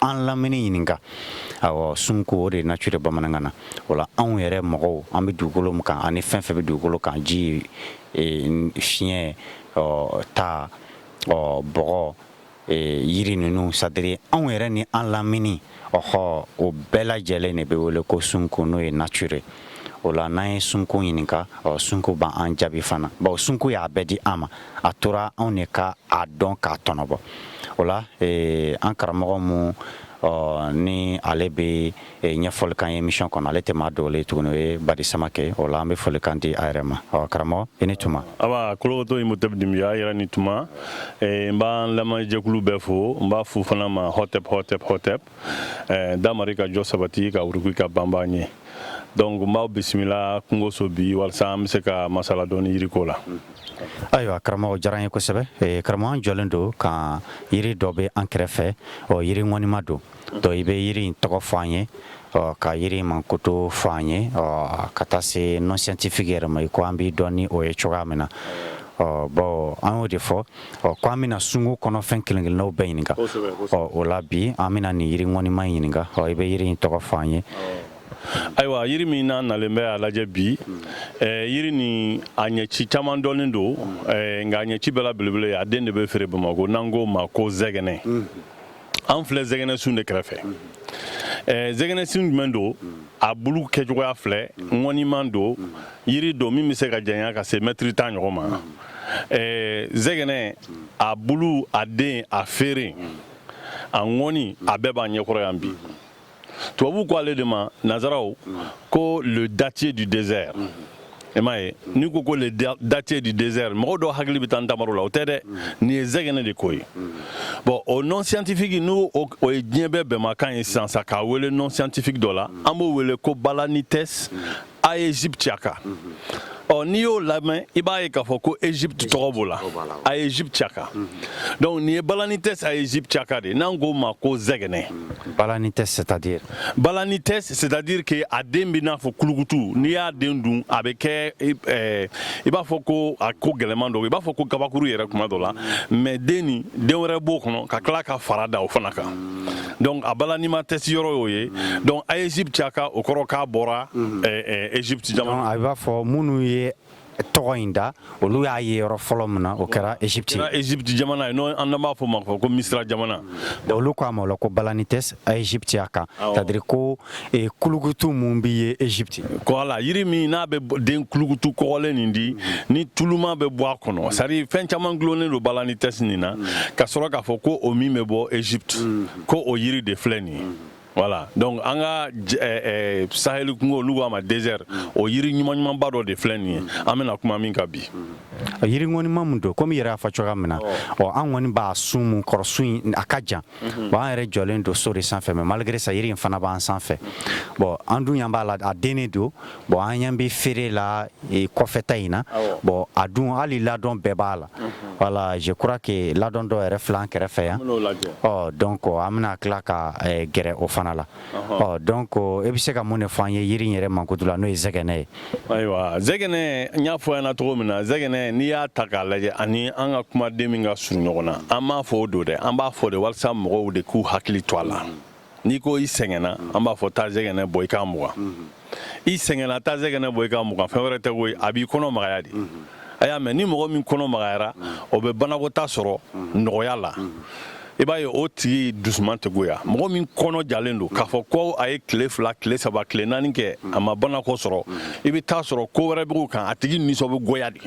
an lamini ɲininka aw sunko o de nature bamanankan na o la anw yɛrɛ mɔgɔw an bɛ dugukolo min kan ani fɛn fɛn bɛ dugukolo kan ji e, fiɲɛ ta bɔgɔ e, yiri ninnu c'est à dire anw yɛrɛ ni an lamini ɔhɔ o bɛɛ lajɛlen de bɛ wele ko sunko n'o ye nature o la n'an ye sunko ɲininka sunko b'an jaabi fana bawo sunko y'a bɛɛ di an ma a tora anw de ka a dɔn k'a tɔnɔbɔ o la an karamɔgɔ mu ni ale bɛ ɲɛfɔli k'an ye émission kɔnɔ ale tɛ maa dɔw tuguni ye badi samakɛ o la an bɛ folikan di a yɛrɛ ma karamɔgɔ i ni tuma kotɔ in mutɛ dunbiya yɛrɛ ni tuma n b'an lamɛnjɛkulu bɛɛ fo n b'a f'u fana ma hɔtep hɔtep hɔtep eh, damari ka jɔ sabati ka wuruki ka banba ɲɛ donc n b'aw bisimila kungoso bi walisa an be se ka masala dɔɔni yiriko la ayiwa karamɔgɔ diyara an ye kosɛbɛ eh, karamɔgɔ an jɔlen don ka yiri dɔ be an kɛrɛfɛ ɔ yiri ŋɔnima don donc i be yiri in tɔgɔ fɔ an ye ɔ ka yiri mankutu fɔ an ye ɔ ka taa se nom scientifique yɛrɛ ma i ko an b'i dɔn ni o ye cogoya min na ɔ bɔn an y'o de fɔ ɔ ko an bɛna sunko kɔnɔfɛn kelenkelennaw bɛɛ ɲininka ɔ o la bi an bɛna nin yiri ŋɔniman ɲininka ɔ i bɛ yiri in tɔgɔ fɔ an ye ayiwa yiri min n'an nalen bɛ a lajɛ bi eh, yiri ni a ɲɛci caman dɔnnen don eh, nka a ɲɛci bɛɛ la belebele ye a den de bɛ feere bamako n'an k'o ma ko zɛgɛnɛ an filɛ zɛgɛnɛsun de kɛrɛfɛ zɛgɛnɛsun jumɛn don a bulu kɛcogoya filɛ ŋɔniman don yiri don min bɛ se ka janya ka se mɛtiri tan ɲɔgɔn ma zɛgɛnɛ a bulu a den a feere a ŋɔni a bɛɛ b'a ɲɛkɔrɔ yan bi tubabu ko ale de ma nazaraw ko le dattier du désert i m'a ye n'i ko ko le dattier du désert mɔgɔ dɔw hakili bɛ taa ntamaro la o tɛ dɛ nin ye zɛgɛnɛ de ko ye bon o nom scientifique n'o o ye diɲɛ bɛɛ bɛnmakan ye sisan sa k'a wele nom scientifique dɔ la an b'o wele ko balanites aegyptiaca ɔ n'i y'o lamɛn i b'a ye k'a fɔ ko egypte tɔgɔ b'o la aegyptiaca donc nin ye balanites aegyptiaca de n'an k'o ma ko zɛgɛnɛ balanites c'est à dire balanites c'est à dire que a den bɛ n'a fɔ kulukutu n'i y'a den dun a bɛ kɛ eh, i b'a fɔ ko a ko gɛlɛman don i b'a fɔ ko kabakuru yɛrɛ kuma dɔ la mais den nin den wɛrɛ b'o kɔnɔ ka tila ka fara da o fana kan donc a balaniman tɛsi yɔrɔ y'o ye donc aegyptiaca o kɔrɔ k'a bɔra egypte jamana a b'a fɔ minnu ye tɔgɔ in da olu y'a ye yɔrɔ fɔlɔ min na o kɛra egypte egypte jamana ye n'o an b'a f'o ma ko misira jamana olu k'a ma o la ko balanites aegyptiaca c'est à dire ko e, kulukutu mun bɛ ye Egypte kɔla yiri min n'a bɛ den kulukutu kɔgɔlen nin di mm. ni tuluma bɛ bɔ a kɔnɔ c'est-à-dire fɛn caman gulonnen don Balanites nin na mm. ka sɔrɔ k'a fɔ ko o min bɛ bɔ Egypte mm. ko o yiri de filɛ nin ye mm. voilà donc an ka eh, eh, saheli kungo olu k'a ma désert o yiri ɲuman ɲumanba dɔ de filɛ nin ye an bɛna kuma min kan bi yiri ŋɔnima min don komi i yɛrɛ y'a fɔ cogoya min na ɔ an kɔni b'a sun mun kɔrɔ sun in a ka jan Bon an yɛrɛ jɔlen don so de sanfɛ mais malgré ça yiri in fana b'an sanfɛ bon an dun ɲɛ b'a la a dennen don bon an ɲɛ bɛ feere la e, kɔfɛta in na bon a dun hali ladɔn bɛɛ b'a la voilà je crois que ladɔn dɔ yɛrɛ filɛ an kɛrɛfɛ yan ɔ donc an bɛna tila ka e, gɛrɛ o fana la Ɔ donc e bɛ se ka mun de fɔ an ye yiri yɛrɛ mankutu la n'o ye zɛgɛnɛ ye ayiwa zɛgɛnɛ n y'a fɔ i ɲɛna cogo min na zɛgɛnɛ n'i y'a ta k'a lajɛ ani an ka kumaden min ka surun ɲɔgɔn na an m'a fɔ o don dɛ an b'a fɔ de walasa mɔgɔw de k'u hakili to a la n'i ko i sɛgɛnna an b'a fɔ taa zɛgɛnɛ bɔ i k'a mugan i sɛgɛnna taa zɛgɛnɛ bɔ i k'a mugan fɛn wɛrɛ tɛ koyi a b'i kɔnɔ magaya de a y'a mɛn ni mɔgɔ min kɔnɔ magayara o bɛ banakɔtaa sɔrɔ nɔgɔya la i b'a ye o tigi dusuman tɛ goya mɔgɔ min kɔnɔ jalen don k'a fɔ ko a ye tile fila tile saba tile naani kɛ a ma banakɔ sɔrɔ i bɛ taa sɔrɔ ko wɛrɛ b'o kan a tigi nisɔn bɛ goya de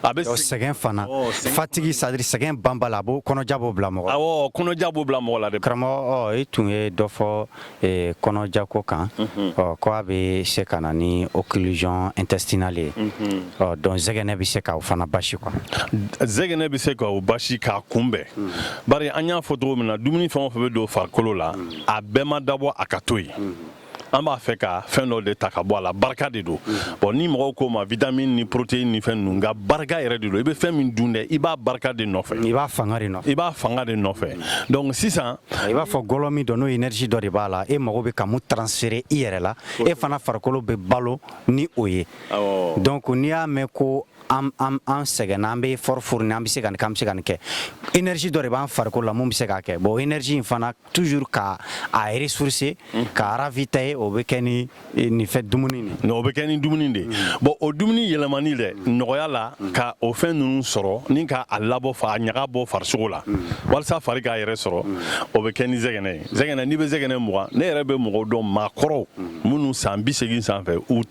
a bɛ sɛgɛn fana fatigue c'est-à-dire sɛgɛn banbali a b'o kɔnɔja b'o bila mɔgɔ awɔ kɔnɔja b'o bila mɔgɔ la de karamɔgɔ i tun ye dɔ fɔ ee, kɔnɔjako kan mhm. ɔ ko a bɛ se ka na ni occlusion intestinale ye mhm. ɔ donc zɛgɛnɛ bɛ se ka o fana basi quoi zɛgɛnɛ bɛ se ka o basi k'a kunbɛn mm. bari an y'a fɔ cogo min na dumuni fɛn o fɛn bɛ don farikolo la mm. a bɛɛ ma dabɔ a ka to yen mm. an b'a fɛ ka fɛn dɔ de ta ka bɔ a la barika de don bɔn ni mɔgɔw k'o ma vitamine ni protéine ni fɛn ninnu nka barika yɛrɛ de don i bɛ fɛn min dun dɛ i b'a barika de nɔfɛ i b'a fanga de nɔfɛ i b'a fanga de nɔfɛ donc sisan i b'a fɔ gɔlɔ min dɔ n'o énergie dɔ de b'a la e mago bɛ ka mun transférer i yɛrɛ la e fana farikolo bɛ balo ni o ye donc n'i y'a mɛn ko an an an sɛgɛnna an bɛ effort fournir an bɛ se ka nin kɛ an bɛ se ka nin kɛ énergie dɔ de b'an farikolo la mun bɛ se k'a kɛ bon énergie in fana toujours ka a ressourcer k'a ravitailler o bɛ kɛ ni nin fɛ dumuni de nka o bɛ kɛ ni dumuni de bɔn o dumuni yɛlɛmani dɛ nɔgɔya la ka o fɛn ninnu sɔrɔ ni ka a labɔ k'a ɲaga bɔ farisogo la walasa fari k'a yɛrɛ sɔrɔ o bɛ kɛ ni zɛgɛnɛ ye zɛgɛnɛ n'i bɛ zɛgɛnɛ mugan ne yɛrɛ bɛ mɔgɔw dɔn maakɔrɔw minnu san bi seegin sanfɛ u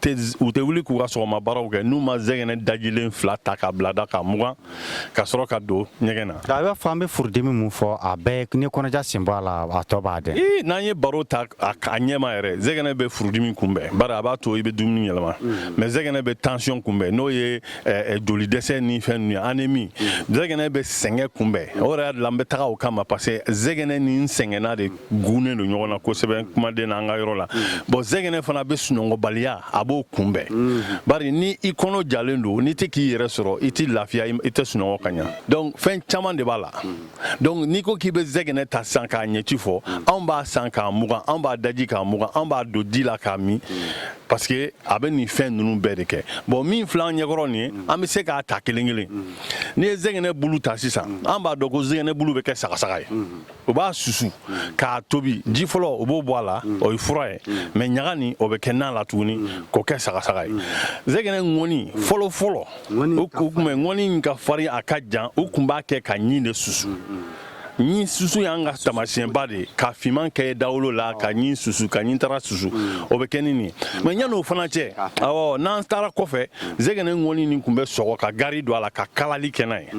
tɛ wuli k'u ka sɔgɔma baaraw kɛ n'u ma zɛgɛnɛ dajilen fila ta k'a bila da ka mugan ka sɔrɔ ka don ɲɛgɛn na i b'a fɔ an bɛ furudimi min fɔ a bɛɛ ni kɔnɔja sen b'a la a tɔ b'a dɛ ee n'an ye baro ta a ɲɛma yɛrɛ zɛgɛnɛ bɛ furudimi kunbɛn bari a b'a to i bɛ dumuni yɛlɛma mm. mais zɛgɛnɛ bɛ tansiyɔn kunbɛn n'o ye joli dɛsɛ ni fɛn ninnu ye anemi mm. zɛgɛnɛ bɛ sɛgɛn kunbɛn o yɛrɛ y'a la an bɛ taga o kama parce que zɛgɛnɛ n'i sɛgɛnna de gunnen don ɲɔgɔn na kosɛbɛ kumaden na an ka yɔrɔ la bɔn zɛgɛnɛ fana bɛ sunɔgɔbaliya a b'o kunbɛn bari ni i kɔnɔ jalen don n'i tɛ k'i yɛrɛ sɔrɔ i tɛ lafiya i tɛ sunɔgɔ ka ɲa donc fɛn caman de b'a la donc n'i ko k'i bɛ zɛgɛnɛ ta sisan k'a ɲɛci fɔ anw b'a san k'a mugan anw b'a daji k'a mugan anw b'a don di la k'a min parce que a bɛ nin fɛn ninnu bɛɛ de kɛ bɔn min filɛ an ɲɛkɔrɔ nin ye an bɛ se k'a ta kelen kelen n'i ye zɛgɛnɛ bulu ta sisan an b'a dɔn ko zɛgɛnɛ bulu bɛ kɛ sagasaga ye o b'a susu k'a tobi ji fɔlɔ u b'o bɔ a la o ye fura ye mɛ ɲaga nin o bɛ kɛ na la tuguni k'o kɛ sagasaga ye zɛgɛnɛ ŋɔni fɔlɔ fɔlɔ o kun bɛ ŋɔni ka farin a ka jan u kun b'a kɛ ka ɲin de susu ɲin susu y'an ka tamasiyɛnba de ka fiman kɛ dawolo la ka ɲin susu ka ɲintara susu o bɛ kɛ ni nin mɛ yan'o fana cɛ awɔ n'an taara kɔfɛ zɛgɛnɛ ŋɔni nin kun bɛ sɔgɔ ka gari don a la ka kalali kɛ n'a ye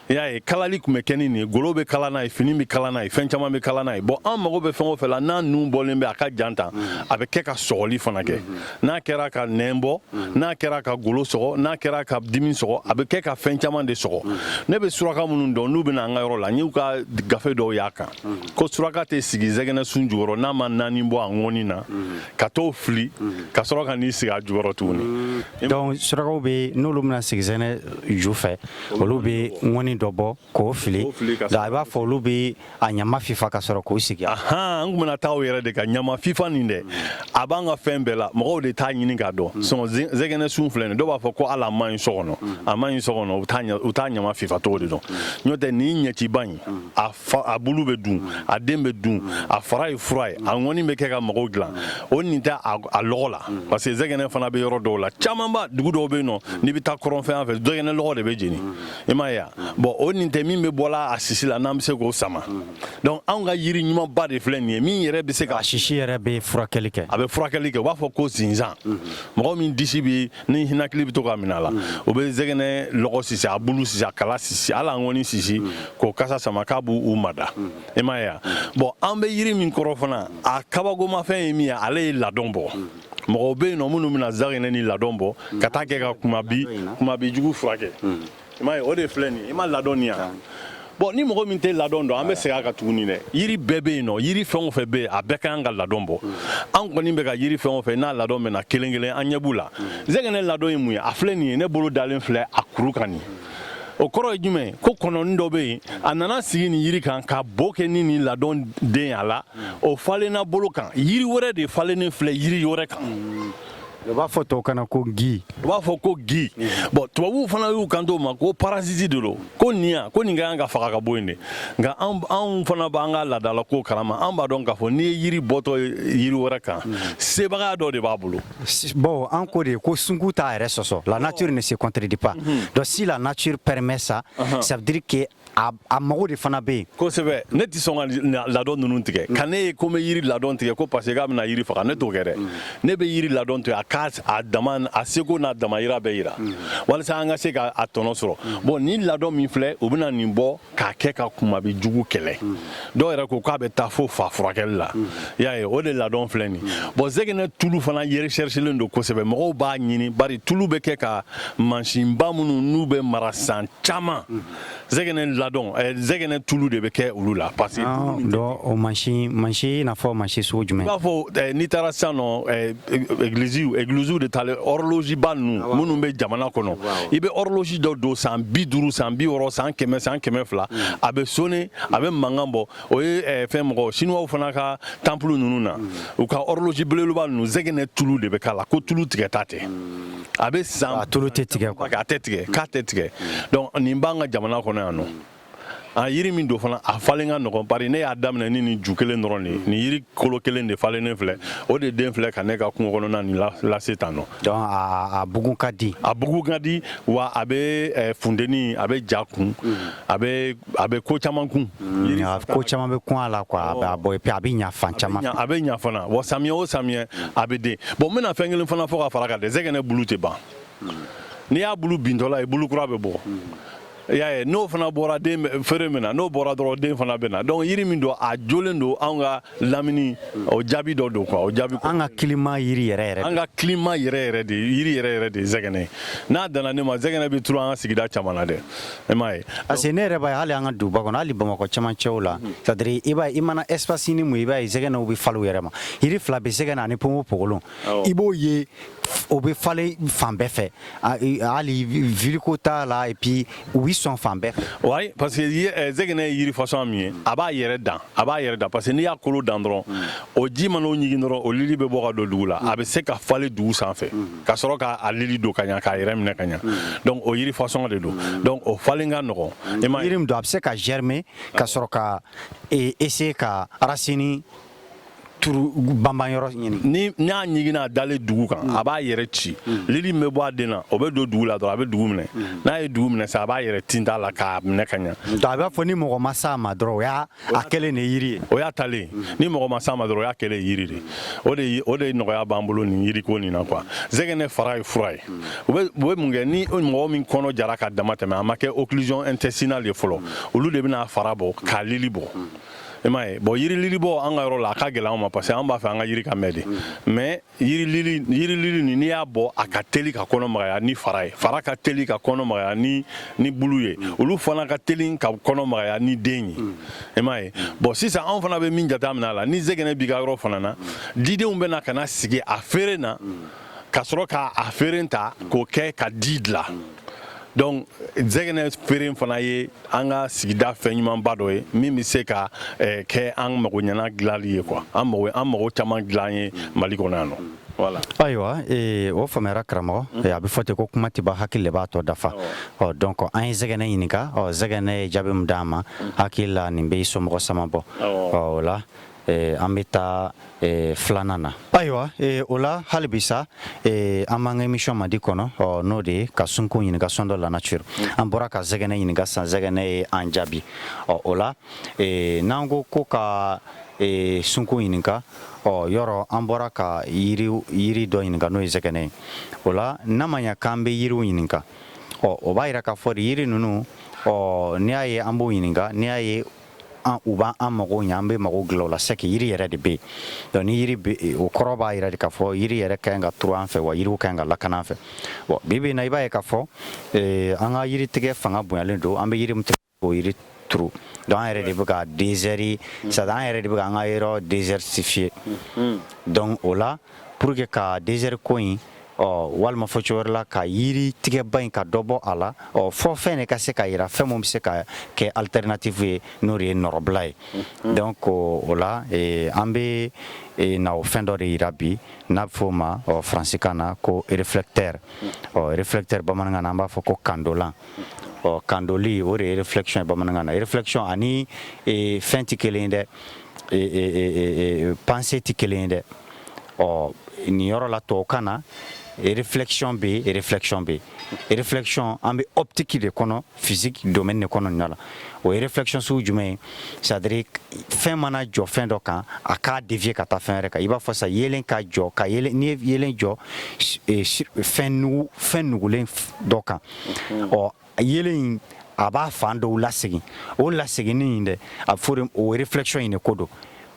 i y'a ye kalali tun bɛ kɛ ni nin ye golo bɛ kala n'a ye fini bɛ kala n'a ye fɛn caman bɛ kala n'a ye bɔn an mago bɛ fɛn o fɛ la n'a nun bɔlen bɛ a ka jan tan a bɛ kɛ ka sɔgɔli fana kɛ n'a kɛra ka nɛn bɔ n'a kɛra ka golo sɔgɔ n'a kɛra ka dimi sɔgɔ a bɛ kɛ ka fɛn caman de sɔgɔ ne bɛ suraka minnu dɔn n'u bɛna an ka yɔrɔ la n y'u ka gafe dɔw y'a kan ko suraka tɛ sigi zɛgɛnɛ sun jukɔrɔ n'a ma naani bɔ a ŋɔni na ka t'o fili ka sɔrɔ ka n'i sigi a jukɔrɔ tuguni donc surakaw bɛ n'olu bɛna sigi zɛgɛnɛ ju fɛ olu bɛ ŋɔni dɔ bɔ k'o fili a b'a fɔ olu bɛ a ɲama fifa ka sɔrɔ k'u sigi an tun bɛna taa yɛrɛ de ka ɲama fifa nin dɛ a b'an ka fɛn bɛɛ la mɔgɔw de t'a ɲini k'a dɔn zɛgɛnɛ sun filɛ nin dɔw b'a fɔ ko ale man ɲi so kɔnɔ a man ɲi so kɔnɔ u t'a ɲama fifa cogo de dɔn n'o tɛ nin ɲɛciba in a bulu bɛ dun a den bɛ dun a fara ye fura ye a ŋɔni bɛ kɛ ka mago dilan o nin tɛ a lɔgɔ la parce que zɛgɛnɛ fana bɛ yɔrɔ dɔw la camanba dugu dɔw bɛ yen nɔ n'i bɛ taa kɔrɔnfɛ fan fɛ zɛgɛnɛ lɔgɔ de bɛ jeni i m'a ye bɔn o nin tɛ min bɛ bɔla a sisi la n'an bɛ se k'o sama donc anw ka yiri ɲumanba de filɛ nin ye min yɛrɛ bɛ se ka sisi yɛrɛ bɛ furakɛli kɛ a bɛ furakɛli kɛ u b'a fɔ ko sinsan mɔgɔ min disi bɛ ninakili bɛ to ka minɛ a la u bɛ zɛgɛnɛ lɔgɔ sisi a bulu sisi a kala sisi hali a ŋɔni sisi k'o kasa sama k'a b'u u mada i m'a ye wa bɔn an bɛ yiri min kɔrɔ fana a kabagomafɛn ye min ye ale ye ladɔn bɔ mɔgɔw bɛ yen nɔ minnu bɛna zɛgɛnɛ nin ladɔn bɔ ka t'a kɛ ka kumabi kumabi jugu furakɛ i m'a ye o de filɛ nin ye i ma ladɔn nin ye wa bɔn ni mɔgɔ min tɛ ladɔn dɔn an bɛ segin a kan tuguni dɛ yiri bɛɛ bɛ yen nɔ yiri fɛn o fɛn bɛ yen a bɛɛ ka kan ka ladɔn bɔ an kɔni bɛ ka yiri fɛn o fɛn n'a ladɔn bɛ na kelen kelen an ɲɛ b'u la zɛgɛnɛ ladɔn ye mun ye a filɛ nin ye ne bolo dalen filɛ a kuru kan nin o kɔrɔ ye jumɛn ko kɔnɔni dɔ bɛ yen a nana sigi nin yiri kan ka bo kɛ ni nin ladɔn den a la o falenna bolo kan yiri wɛrɛ de falennen filɛ yiri wɛrɛ kan U b'a fɔ to kana ko gui u b'a fɔ ko gui bon tubabuw fana y'u kanto o ma ko parasite de don ko nin ko nin ka kan ka faga ka bɔ yen de nka anw fana b'an ka laadala ko kalama an b'a dɔn k'a fɔ n'i ye yiri bɔtɔ yiri wɛrɛ kan sebagaya dɔ de b'a bolo bon an ko de ye ko sungu t'a yɛrɛ sɔsɔ la nature ne se contredit pas donc si la nature permet ça ça veut dire que a mago de fana bɛ yen kosɛbɛ ne tɛ sɔn ka ladɔn ninnu tigɛ mm. ka ne ye ko n bɛ yiri ladɔn tigɛ ko parce que k'a bɛna yiri faga ne t'o kɛ dɛ mm. ne bɛ yiri ladɔn to yen a k'a dama a seko n'a damayira bɛɛ yira mm. walasa an ka se ka a tɔnɔ sɔrɔ bon nin ladɔn min filɛ u bɛna nin bɔ k'a kɛ ka kunbabin jugu kɛlɛ dɔw yɛrɛ ko k'a bɛ taa fo fa furakɛli la y'a ye o de ladɔn filɛ nin bon zɛgɛnɛ tulu fana recherchélen don kosɛbɛ mɔgɔw b'a ɲini bari tulu bɛ kɛ ka mansinba minnu n'u bɛ mara san caman zɛgɛnɛ ladɔn eh, zɛgɛnɛ tulu de bɛ kɛ olu la parce que ah, dɔ o mansin mansin i n'a fɔ mansin sugu jumɛn i b'a fɔ eh, n'i taara sisan nɔ eh, egiliziw egiliziw de taalen ɔrɔloziba ninnu ah, minnu bɛ jamana kɔnɔ i bɛ ɔrɔlozi dɔ don san bi duuru san bi wɔɔrɔ san kɛmɛ san kɛmɛ fila hmm. a bɛ sonner a bɛ mankan bɔ o ye eh, fɛn mɔgɔ sinuwaw fana ka tanpulu ninnu na mm. u ka horloge belebeleba ninnu zɛgɛnɛ tulu de bɛ k'a la k'o tulu tigɛta tɛ mm. a bɛ san a tulu tɛ tigɛ quoi a tɛ tigɛ k'a tɛ tigɛ mm. donc nin b'an ka jamana kɔnɔ yan nɔ a yiri min don fana a falen ka nɔgɔn bari ne y'a daminɛ ni nin ju kelen dɔrɔn de ye nin yiri kolo kelen de falennen filɛ o de den filɛ ka ne ka kungo kɔnɔna nin lase tan nɔ donc a bugu ka di a bugu ka di wa a bɛ eh, funteni a bɛ ja kun a bɛ a bɛ ko caman kun ko caman bɛ kun a la quoi a bɛ bɔ a bɛ ɲa fan caman a bɛ ɲa fana wa sami o sami a bɛ den bon n bɛna fɛn kelen fana fɔ ka fara a kan dɛ zɛgɛnɛ bulu tɛ ban n'i y'a bulu bintɔla ye bulu kura bɛ bɔ y'a ye n'o fana bɔra feere bɛ na n'o bɔra dɔrɔn den fana bɛ na donc yiri min don a jɔlen don anw ka lamini o jaabi dɔ don o jaabi an ka climat yiri yɛrɛ yɛrɛ an ka climat yɛrɛ yɛrɛ de yiri yɛrɛ yɛrɛ de zɛgɛnɛ ye a ɲɛ na ne ma zɛgɛnɛ bɛ t an ka sigida caman na dɛ E m'a ye parce que ne yɛrɛ b'a ye hali an ka duguba kɔnɔ hali Bamakɔ cɛmancɛw la c'est à dire i b'a ye i mana espace ni mun ye i b'a ye zɛgɛnɛw bɛ falen u yɛrɛ ma yiri fila bɛ zɛgɛnɛ ani ponponpogolon awɔ i b'o ye o bɛ falen fan bɛɛ fɛ a- i- hali ville ko t'a la et puis u bɛ sɔn fan bɛɛ fɛ wayi parce que ye- eh, zɛgɛnɛ ye yiri fasɔn min ye a b'a yɛrɛ dan a b'a yɛrɛ dan parce que n'i y'a kolo dan dɔrɔn o ji man'o ɲigin dɔrɔn o lili bɛ bɔ ka don dugu la a bɛ se ka falen dugu sanfɛ ka sɔrɔ k'a lili don ka ɲa k'a yɛrɛ minɛ ka ɲa donc o yiri fasɔn de don donc o falen ka nɔgɔn yiri min don a bɛ se ka germer ka sɔrɔ ka essayer ka racine turu banban yɔrɔ ɲini ni n'a jiginna a dalen dugu kan a b'a yɛrɛ ci lili min bɛ bɔ a den na o bɛ don dugu la dɔrɔn a bɛ dugu minɛ n'a ye dugu minɛ sa a b'a yɛrɛ tinta la k'a minɛ ka ɲa donc a b'a fɔ ni mɔgɔ ma s'a ma dɔrɔn o y'a a kɛlen de yiri ye o y'a talen ni mɔgɔ ma s'a ma dɔrɔn o y'a kɛlen yiri de o de ye- o de nɔgɔya b'an bolo nin yiriko nin na quoi zɛgɛnɛ fara ye fura ye u bɛ u bɛ mun kɛ ni mɔgɔ min kɔnɔ jara ka dama tɛmɛ a ma kɛ occlusion intestinale ye fɔlɔ olu de bɛna a fara bɔ k'a lili bɔ i m'a ye bon yiri lilibɔ an ka yɔrɔ la a ka gɛlɛn an ma parce que an b'a fɛ an ka yiri ka mɛn de mais yiri lili ni n'i y'a bɔ a ka teli ka kɔnɔ magaya ni fara ye fara ka teli ka kɔnɔ magaya ni ni bulu ye olu fana ka teli ka kɔnɔ magaya ni den ye i m'a ye bon sisan anw fana bɛ min jate minɛ a la ni zɛgɛnɛ b'i ka yɔrɔ fana na didenw bɛna ka na sigi a feere na ka sɔrɔ ka a feeren ta k'o kɛ ka di dila donc zɛgɛnɛ feeren fana ye an ka sigida fɛn ɲumanba dɔ ye min bɛ se ka eh, kɛ an mago ɲɛna dilali ye quoi an mago an mago caman dilan ye mali kɔnɔ yan nɔ voilà ayiwa ee, o faamuyara karamɔgɔ ee, a bɛ fɔ ten ko kuma tɛ ban hakili de b'a tɔ dafa ɔ donc an ye zɛgɛnɛ ɲininka ɔ zɛgɛnɛ ye jaabi min d'an ma hakili la nin bɛ i somɔgɔ sama bɔ Awɔ. ɔ o la an bɛ taa filanan na ayiwa o la hali bi sa an b'an ka émission madi kɔnɔ ɔ n'o de ye ka sunkun ɲininka sondons la nature an bɔra ka zɛgɛnɛ ɲininka sa zɛgɛnɛ ye an jaabi ɔ o la n'an ko ko ka sunkun ɲininka ɔ yɔrɔ an bɔra ka yiri dɔ ɲininka n'o ye zɛgɛnɛ ye o la n'a ma ɲɛ k'an bɛ yiriw ɲininka ɔ o b'a jira k'a fɔ yiri ninnu ɔ n'i y'a ye an b'o ɲininka n'i y'a ye U b'an an mago ɲɛ an bɛ mago dilan u la c'est que yiri yɛrɛ de bɛ yen ni o kɔrɔ b'a jira de k'a fɔ yiri yɛrɛ ka kan ka turu an fɛ wa yiri ka kan ka lakana an fɛ bi bɛ na i b'a ye k'a fɔ an ka yiri tigɛ fanga bonyalen don an bɛ yiri tigɛ o yiri turu donc an yɛrɛ de bɛ ka désert sa an yɛrɛ de bɛ ka an ka yɔrɔ désertifier donc o la pour que ka désert ko in ɔ walima fɔ cogo wɛrɛ la ka yiri tigɛba in ka dɔ bɔ a la ɔ fo fɛn de ka se ka yira fɛn min bɛ se ka kɛ alternative ye n'o de ye nɔrɔbila ye mhm. donc o la eh, an bɛ eh, na o fɛn dɔ de yira bi n'a bɛ f'o ma ɔ faransikan na ko réflecteur mhm. ɔ réflecteur bamanankan na an b'a fɔ ko kandolan mhm. ɔ kandoli o de ye réflexion ye bamanankan na réflexion ani eh, fɛn tɛ kelen ye dɛ pensée tɛ kelen ye dɛ ɔ nin yɔrɔ la tubabukan na réflexion bɛ yen réflexion bɛ yen réflexion an bɛ optique de kɔnɔ physique domaine de kɔnɔ nin la o ye réflexion sugu jumɛn ye c'est à dire fɛn mana jɔ fɛn dɔ kan a k'a dévier ka taa fɛn wɛrɛ kan i b'a fɔ sa yeelen ka jɔ ka yeelen n'i ye yeelen jɔ fɛn nugu fɛn nugulen dɔ kan ɔ a yeelen in a b'a fan dɔw lasegin o laseginni in dɛ a bɛ fɔ o réflexion in de ko don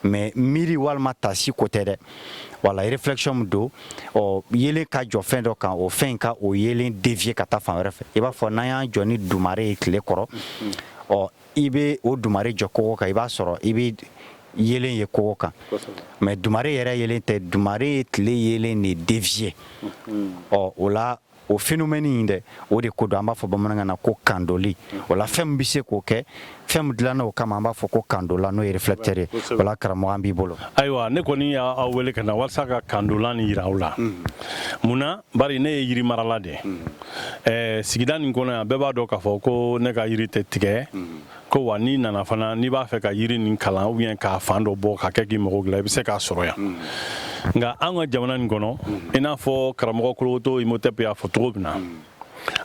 mais miiri walima taasi ko tɛ dɛ voilà réflexion min don ɔ yeelen ka jɔ fɛn dɔ kan o fɛn ka o yeelen dévier ka taa fan wɛrɛ fɛ i b'a fɔ n'an y'an jɔ ni dumare ye tile kɔrɔ ɔ i bɛ o dumare jɔ kogo kan i b'a sɔrɔ i bɛ yeelen ye kogo kan mais dumare yɛrɛ yeelen tɛ dumare ye tile yeelen de dévier ɔ o la o phénomène in dɛ o de ko don an b'a fɔ bamanankan na ko kandoli voilà fɛn min bɛ se k'o kɛ fɛn min dilanna o kama an b'a fɔ ko kandolan n'o ye réflecteur ye voilà karamɔgɔ an b'i bolo ayiwa ne kɔni y'aw wele ka na walasa ka kandolan nin jira aw la mun na bari ne ye yiri marala de ye sigida nin kɔnɔ yan bɛɛ b'a dɔn k'a fɔ ko ne ka yiri tɛ tigɛ ko wa n'i nana fana n'i b'a fɛ ka yiri nin kalan ou bien k'a fan dɔ bɔ ka kɛ k'i mago dilan i bɛ se k'a sɔrɔ yan hmm. nka an ka jamana nin kɔnɔ hmm. i n'a fɔ karamɔgɔ kolowoto Imhotep y'a fɔ cogo min na hmm.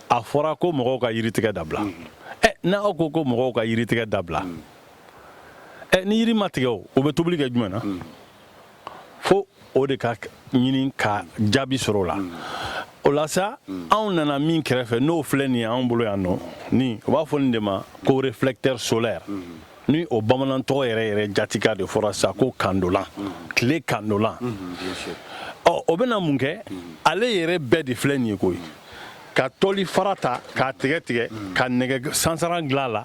a fɔra ko mɔgɔw ka yiritigɛ dabila ɛ n'aw ko ko mɔgɔw ka yiritigɛ dabila ɛ ni yiri ma tigɛ o u bɛ tobili kɛ jumɛn na fo o de ka ɲini ka jaabi sɔrɔ o la mm. o la sa mm. anw nana min kɛrɛfɛ n'o filɛ nin ye anw bolo yan nɔ ni o b'a fɔ nin de ma ko réflecteur solaire mm. ni o bamanan tɔgɔ yɛrɛ yɛrɛ jatika de fɔra sa ko kandolan tile kandolan ɔ o bɛna mun kɛ ale yɛrɛ bɛɛ de filɛ nin ye ko i ka tɔli fara ta k'a tigɛ tigɛ ka nɛgɛ sansara dilan a la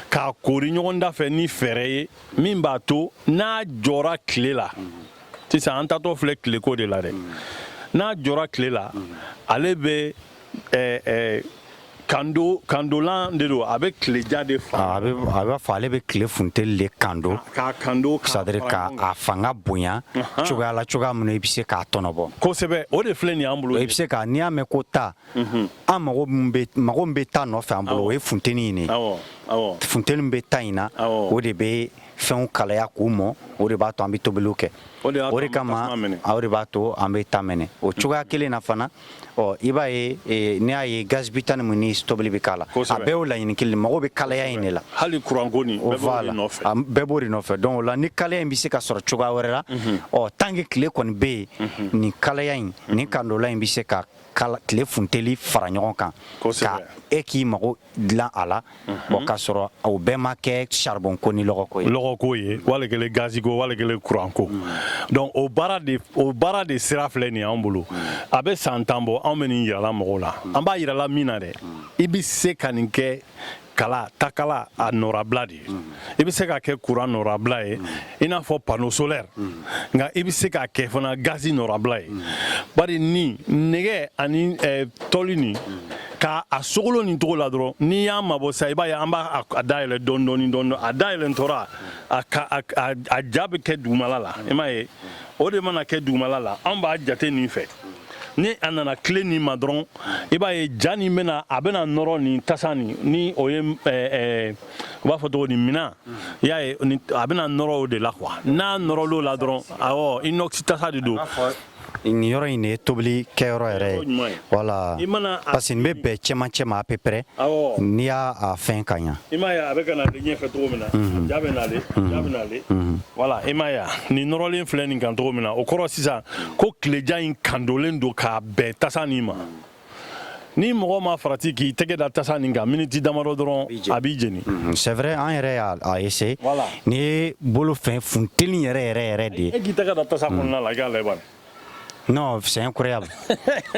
k'a koori ɲɔgɔn da fɛ ni fɛɛrɛ ye min b'a to n'a jɔra tile la sisan an taatɔ filɛ tileko de la dɛ n'a jɔra tile la ale bɛ eh, eh, kando kandolan de don a bɛ tileja de fa a bɛ a b'a fɔ ale bɛ tile funteni de kando k'a kando c'est-à-dire k'a fara ɲɔgɔn kan. a fanga bonya cogoya la cogoya min na i bɛ se k'a tɔnɔbɔ kosɛbɛ o de filɛ nin y'an bolo i bɛ se ka n'i y'a mɛn ko ta an mago mago bɛ ta nɔfɛ an bolo o ye funteni in ye funteni bɛ ta in na o de bɛ fɛnw kalaya k'u mɔ o de b'a to an bɛ tobili kɛ o de kama de b'a to an bɛ ta minɛ o cogoya kelen na fana ɔ i b'a ye n'i y'a ye gaz butane ni tobili bɛ k'a la a bɛɛ o laɲini kelen mago bɛ kalaya in de la hali kuran bɛɛ b'o nɔfɛ donc o la ni kalaya in bɛ se ka sɔrɔ cogoya wɛrɛ la ɔ tant que tile kɔni bɛ yen nin kalaya in ni kandolan in bɛ se ka kala tile funteli fara ɲɔgɔn kan ka e k'i mago dilan a la bon k'a sɔrɔ o bɛɛ ma kɛ charbon ko ni lɔgɔko ye lɔgɔko ye wali kelen gazi ko wali kelen kuran ko donc o baara de o baara de sira filɛ nin y'an bolo a bɛ san tan bɔ anw bɛ nin yirala mɔgɔw la an b'a yirala min na dɛ i bɛ se ka nin kɛ kala takala a nɔrabila de ye i bɛ se k'a kɛ kuran nɔrabila ye i n'a fɔ pano solɛri nka i bɛ se k'a kɛ fana gazi nɔrabila ye bari ni nɛgɛ ani eh, tɔli nin ka a sogolon nin cogo la dɔrɔn n'i y'a mabɔ sa i b'a ye an b'a a dayɛlɛ dɔɔni dɔɔni dɔɔni a dayɛlɛtɔ ra a ka a a ja bɛ kɛ dugumala la i m'a ye o de mana kɛ dugumala la an b'a jate nin fɛ ni a nana tile nin ma dɔrɔn i b'a ye ja nin bɛna a bɛna nɔrɔ nin tasa nin ni o ye u b'a fɔ cogo nin min na i y'a ye a bɛna nɔrɔ o de la quoi n'a nɔrɔla o la dɔrɔn awɔ inox tasa de don nin yɔrɔ in de ye tobili kɛyɔrɔ yɛrɛ ye voilà parce que nin bɛ bɛn cɛmancɛ ma à peu près n'i y'a a fɛn ka ɲa i m'a ye a bɛ ka n'ale ɲɛfɛ cogo min na ja bɛ n'ale ja bɛ n'ale voilà i m'a ye nin nɔrɔlen filɛ nin kan cogo min na o kɔrɔ sisan ko tile ja in kandolen don k'a bɛn tasa nin ma ni mɔgɔ ma farati k'i tɛgɛ da tasa nin kan miniti damadɔ dɔrɔn a b'i jeni mhm. c'est vrai an yɛrɛ y'a essayer ne ye n bolo fɛn funteni yɛrɛ yɛrɛ yɛrɛ de ye e k'i tɛgɛ da tasa kɔnɔna la i k'a lajɛ non c'est incroyable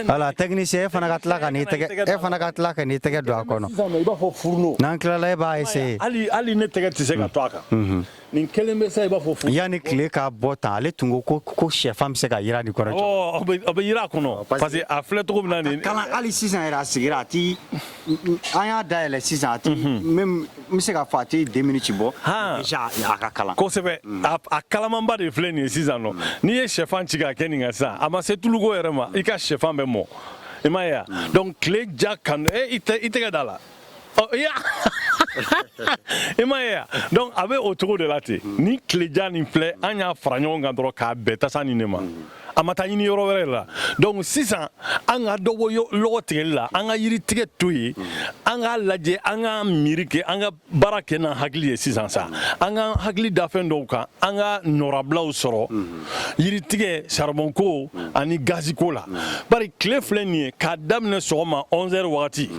voilà technicien e fana ka tila ka n'i tɛgɛ e fana ka tila ka n'i tɛgɛ don a kɔnɔ n'an tilala e b'a essayer hali ne tɛgɛ tɛ se ka to a kan Nin kelen bɛ sa i b'a fɔ fo yanni tile ka bɔ tan ale tun ko ko shɛfan bɛ se ka jiran nin kɔrɔ bɛ jiran a kɔnɔ parce que a filɛ cogo na nin ka kalan hali sisan yɛrɛ a sigira a tɛ an y'a dayɛlɛ sisan a n bɛ se k'a fɔ a tɛ den ci bɔ a ka kalan kosɛbɛ a kalamanba de filɛ nin ye sisan nɔ n'i ye shɛfan ci k'a kɛ nin kan sisan a ma se tuluko yɛrɛ ma i ka shɛfan bɛ mɔ i m'a ye donc tile ja ka n'i tɛgɛ da a la Oh, i m'a ye donc a bɛ o cogo de la ten mm. ni tile ja nin filɛ an y'a fara ɲɔgɔn kan dɔrɔn k'a bɛn tasa nin de ma mm. a ma taa ɲini yɔrɔ wɛrɛ la donc sisan an ka dɔ bɔ lɔgɔ tigɛli la an ka yiri tigɛ to yen mm. an k'a lajɛ an ka miiri kɛ an ka baara kɛ n'an hakili ye sisan sa an ka hakili da fɛn dɔw kan an ka nɔrabilaw sɔrɔ yiri tigɛ saribɔnko ani gaziko la bari tile filɛ nin ye k'a daminɛ sɔgɔma 11 heures wagati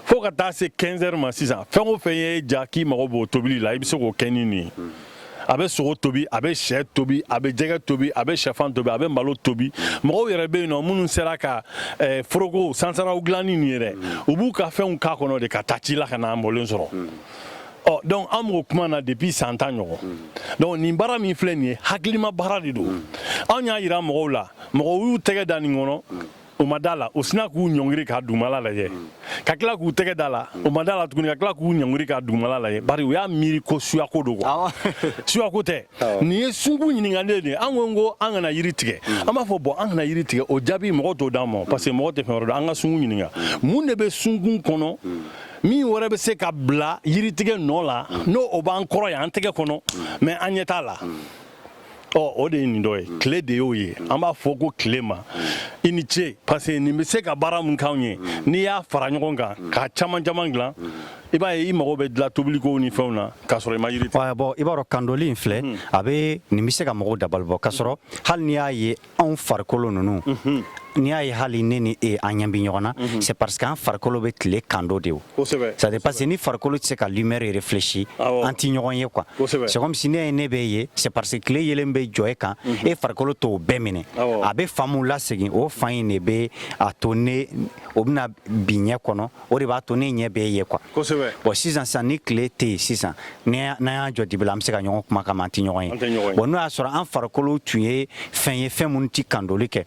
fo ka taa se 15 heures ma sisan fɛn o fɛn ye ja k'i mago b'o tobili la i bɛ se k'o kɛ ni nin ye a bɛ sogo tobi a bɛ shɛ tobi a bɛ jɛgɛ tobi a bɛ shɛfan tobi a bɛ malo tobi mɔgɔw yɛrɛ bɛ yen nɔ minnu sera ka eh, foroko sansaraw dilan ni nin ye dɛ u b'u ka fɛnw kɛ a kɔnɔ de ka taa ci la ka na a mɔlen sɔrɔ ɔ donc an b'o kuma na depuis san tan ɲɔgɔn donc nin baara min filɛ nin ye hakilima baara de don anw y'a yira mɔgɔw la mɔgɔw y'u tɛgɛ da nin kɔnɔ u ma da a la u sinna k'u ɲɔngiri ka dugumala lajɛ ka tila k'u tɛgɛ da a la u ma da a la tuguni ka tila k'u ɲɔngiri ka dugumala lajɛ bari u y'a miiri ko suyako don quoi suyako tɛ nin ye sunkun ɲininkalen de an ko ko an kana yiri tigɛ an b'a fɔ bon an kana yiri tigɛ o jaabi mɔgɔ t'o d'an ma parce que mɔgɔ tɛ fɛn wɛrɛ dɔn an ka sunkun ɲininka mun de bɛ sunkun kɔnɔ min wɛrɛ bɛ se ka bila yiritigɛ nɔ la n'o b'an kɔrɔ yan an tɛgɛ kɔnɔ mais an ɲɛ t'a la ɔ o de ye nin dɔ ye mm. tile de y'o ye mm. an b'a fɔ ko tile ma i ni ce parce que nin bɛ se ka baara min k'anw ye mm. n'i y'a fara ɲɔgɔn kan k'a caman caman dilan i b'a ye i mago bɛ dilan tobilikow ni fɛnw na k'a sɔrɔ i ma yiri bɔn i b'a dɔn kandoli in filɛ a bɛ nin bɛ se ka mɔgɔw dabalibɔ k'a sɔrɔ hali n'i y'a ye anw farikolo ninnu mhm. n'i y'a ye hali ne ni e an ɲɛ bɛ ɲɔgɔn na mhm. c'est parce que an farikolo bɛ tile kando de o ça c'est parce que ni farikolo tɛ se ka lumière réfléchir an tɛ ɲɔgɔn ye quoi c'est comme si n'i y'a ye ne b'e ye c'est parce que tile yeelen bɛ jɔ e kan mhm. e farikolo t'o bɛɛ minɛ a bɛ fan min lasegin o fan in de bɛ a to ne o bɛna bin ɲɛ kɔnɔ o de b'a to ne ɲɛ b'e ye quoi bon sisan sisan ni tile tɛ yen sisan n'an y'an jɔ dibi la an bɛ se ka ɲɔgɔn kumakan mɛn an tɛ ɲɔgɔn ye bon n'o y'a sɔrɔ an farikolo tun ye fɛn ye fɛn minnu tɛ kandoli kɛ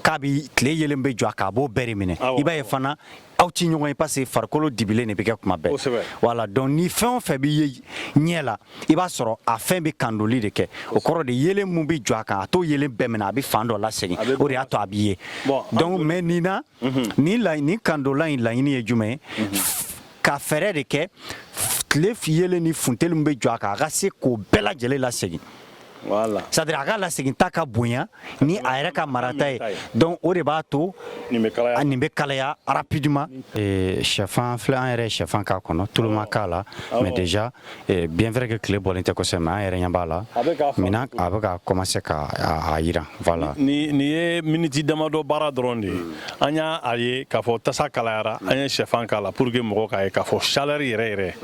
k'a bi tile yeelen bɛ jɔ a kan a b'o bɛɛ de minɛ i b'a ye fana aw tɛ ɲɔgɔn ye parce que farikolo dibilen de bɛ kɛ tuma bɛɛ voilà donc ni fɛn o fɛn bɛ ye ɲɛ la i b'a sɔrɔ a fɛn bɛ kandoli de kɛ o kɔrɔ de yeelen min bɛ jɔ a kan a t'o yeelen bɛɛ minɛ a bɛ fan dɔ lasegin o de y'a to a bɛ ye donc mais nin na ni ni kandola in laɲini ye jumɛn ka fɛɛrɛ de kɛ tile yeelen ni funteni min bɛ jɔ a kan a ka se k'o bɛɛ lajɛlen lasegin c'est-à-dire a ka laseginta ka bonya ni a yɛrɛ ka marata ye donc o de b'a to nin bɛ kalaya rapidement shɛfan filɛ an yɛrɛ shɛfan k'a kɔnɔ tulu ma k'a la mais déjà Bien vrai que tile bɔlen tɛ kosɛbɛ an yɛrɛ ɲɛ b'a la a bɛ ka commencer ka jiran voilà nin ye miniti damadɔ baara dɔrɔn de ye an y'a ye k'a fɔ tasa kalayara an ye shɛfan k'a la pour que mɔgɔ k'a ye k'a fɔ chaleur yɛrɛ yɛrɛ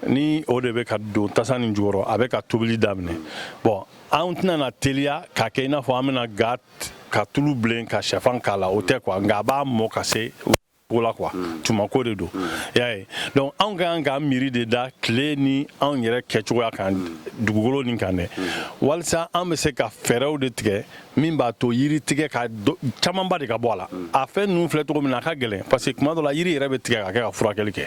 ni o de bɛ ka don tasa nin jukɔrɔ a bɛ ka tobili daminɛ bon an tɛna teliya ka kɛ i n'a fɔ an bɛna gan ka tulu bilen ka shɛfan k'a la o tɛ quoi nka a b'a mɔ ka se ko la quoi mm. tumako de don mm. y'a ye donc anw ka kan ka miiri de da tile ni anw yɛrɛ kɛcogoya kan mm. dugukolo nin kan dɛ walisa an bɛ se ka fɛɛrɛw de tigɛ min b'a to yiri tigɛ a camanba de ka bɔ a la a fɛn ninnu filɛ cogo min na a ka gɛlɛn parce que tuma dɔ la yiri yɛrɛ bɛ tigɛ ka kɛ ka furakɛli kɛ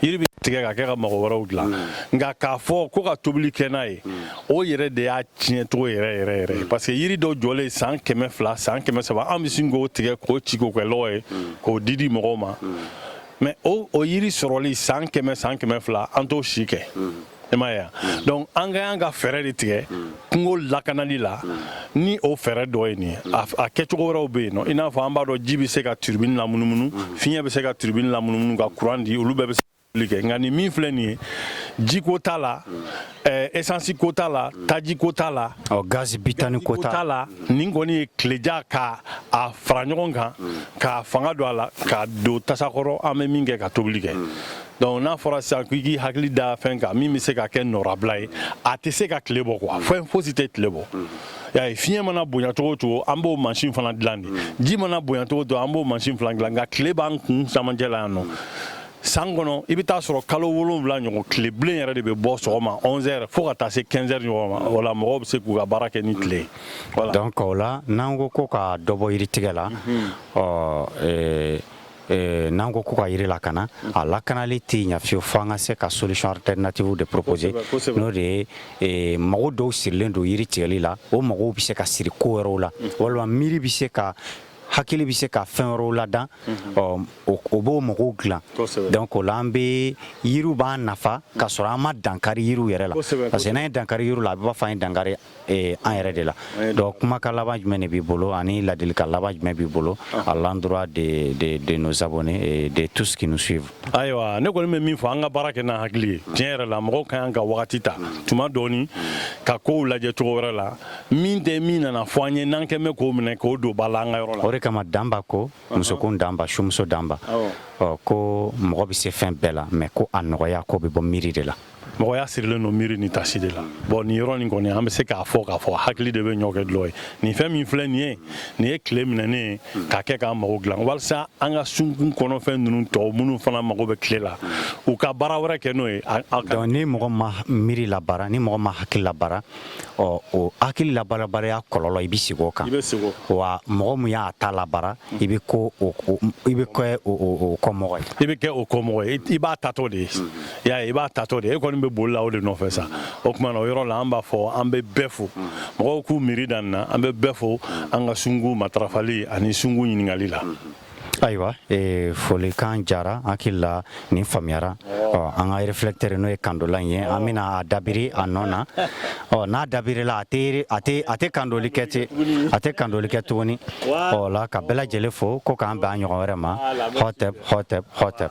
yiri bɛ tigɛ ka kɛ ka mago wɛrɛw dilan nka k'a fɔ ko ka tobili kɛ n'a ye o yɛrɛ de y'a tiɲɛ cogo yɛrɛ yɛrɛ yɛrɛ mm. parce que yiri dɔ jɔlen san kɛmɛ fila san kɛmɛ saba an bɛ sin k'o tigɛ k'o ci k'o kɛ lɔgɔ ye mm. k'o di di mɔgɔw ma mm. mais o o yiri sɔrɔli san kɛmɛ san kɛmɛ fila an t'o si kɛ i m'a ye wa donc an ka y'an ka fɛɛrɛ de tigɛ kungo lakanali la ni o fɛɛrɛ dɔ ye nin ye a kɛcogo wɛrɛw bɛ yen nɔ i n'a fɔ an b'a dɔn ji bɛ se ka turbine lamunumunu fiɲɛ bɛ se ka turbine lamunumunu ka courant di olu bɛɛ bɛ se nka nin min filɛ nin ye jiko t'a la esansi ko t'a la taji ko t'a la gazi bitani ko t'a la nin kɔni ye tileja ka a fara ɲɔgɔn kan k'a fanga don a la k'a don tasa kɔrɔ an bɛ min kɛ ka tobili kɛ donc n'a fɔra sisan ko i k'i hakili da fɛn kan min bɛ se ka kɛ nɔnabila ye a tɛ se ka tile bɔ quoi fɛn fosi tɛ tile bɔ y'a ye fiɲɛ mana bonya cogo cogo an b'o mansin fana dilan de ji mana bonya cogo cogo an b'o mansin fana dilan nka tile b'an kun camancɛ la yan nɔ san kɔnɔ i bɛ taa sɔrɔ kalo wolonwula ɲɔgɔn tile bilen yɛrɛ de bɛ bɔ sɔgɔma 11 heures fo ka taa se 15 heures ɲɔgɔn ma o la mɔgɔw bɛ se k'u ka baara kɛ ni tile ye voilà donc o la n'an ko ko ka dɔ bɔ yiritigɛ la mhm. ɔ euh, euh, n'an ko ko ka yiri lakana mhm. a lakanali tɛ ɲa fiyewu fo an ka se ka solution alternative de proposer n'o de ye euh, mago dɔw sirilen don yiri tigɛli la o magow bɛ se ka siri ko wɛrɛw la mhm. walima miiri bɛ se ka hakili bɛ se ka fɛn wɛrɛw ladan mhm. o b'o magow dilan donc o la an bɛ yiriw b'an nafa ka sɔrɔ an ma dankari yiriw yɛrɛ la parce que n'an ye dankari yiriw la a bɛ b'a fɔ an ye dankari eh, an yɛrɛ de la donc kumakan laban jumɛn de b'i bolo ani ladilikan laban jumɛn b'i bolo ah. à l'endroit de de de nos abonnés et de tous ceux qui nous suivent ayiwa ne kɔni bɛ min fɔ an ka baara kɛ n'an hakili ye tiɲɛ yɛrɛ la mɔgɔw ka kan ka wagati ta tuma dɔɔni ka kow lajɛ cogo wɛrɛ la min tɛ min nana fɔ an ye n'an kɛn bɛ k'o minɛ k'o don ba la an ka yɔrɔ la o de kama danba ko musokun danba sumuso danba ɔ ko mɔgɔ bɛ se fɛn bɛɛ la mais ko a nɔgɔya ko bɛ bɔ miiri de la mɔgɔya sirilen don miiri ni tasi de la bon nin yɔrɔ nin kɔni an bɛ se k'a fɔ k'a fɔ hakili de bɛ ɲɔ kɛ dɔlɔ ye nin fɛn min filɛ nin ye nin ye tile minɛnen ye k'a kɛ k'an mago dilan walisa an ka sunkun kɔnɔfɛn ninnu tɔw minnu fana mago bɛ tile la u ka baara wɛrɛ kɛ n'o ye ni mɔgɔ ma miiri labaara ni mɔgɔ ma hakili labaara ɔ o hakili labaarabaliya kɔlɔlɔ i bɛ sigi o kan wa mɔgɔ min y'a ta labaara mm. i bɛ ko i bɛ kɛ o kɔmɔgɔ ye i bɛ kɛ o kɔmɔgɔ ye i b'a taatɔ de ye mm. y'a ye i b'a taatɔ de ye e kɔni bɛ boli la o de nɔfɛ sa o tuma na o yɔrɔ la an b'a fɔ an bɛ bɛɛ fo mm. mɔgɔw k'u miiri dan na an bɛ bɛɛ fo an ka sungu matarafali ani sungu ɲininkali la. Ayiwa ee folikan jara hakili la nin faamuyara ɔ an ka réflecteur n'o ye kandola ye an bɛna a dabiri a nɔ na ɔ n'a dabirila a a tɛ kandoli kɛ ten a tɛ kandoli kɛ tuguni o la ka bɛɛ lajɛlen fo ko k'an bɛn a ɲɔgɔn wɛrɛ ma hatɛ hatɛ hatɛ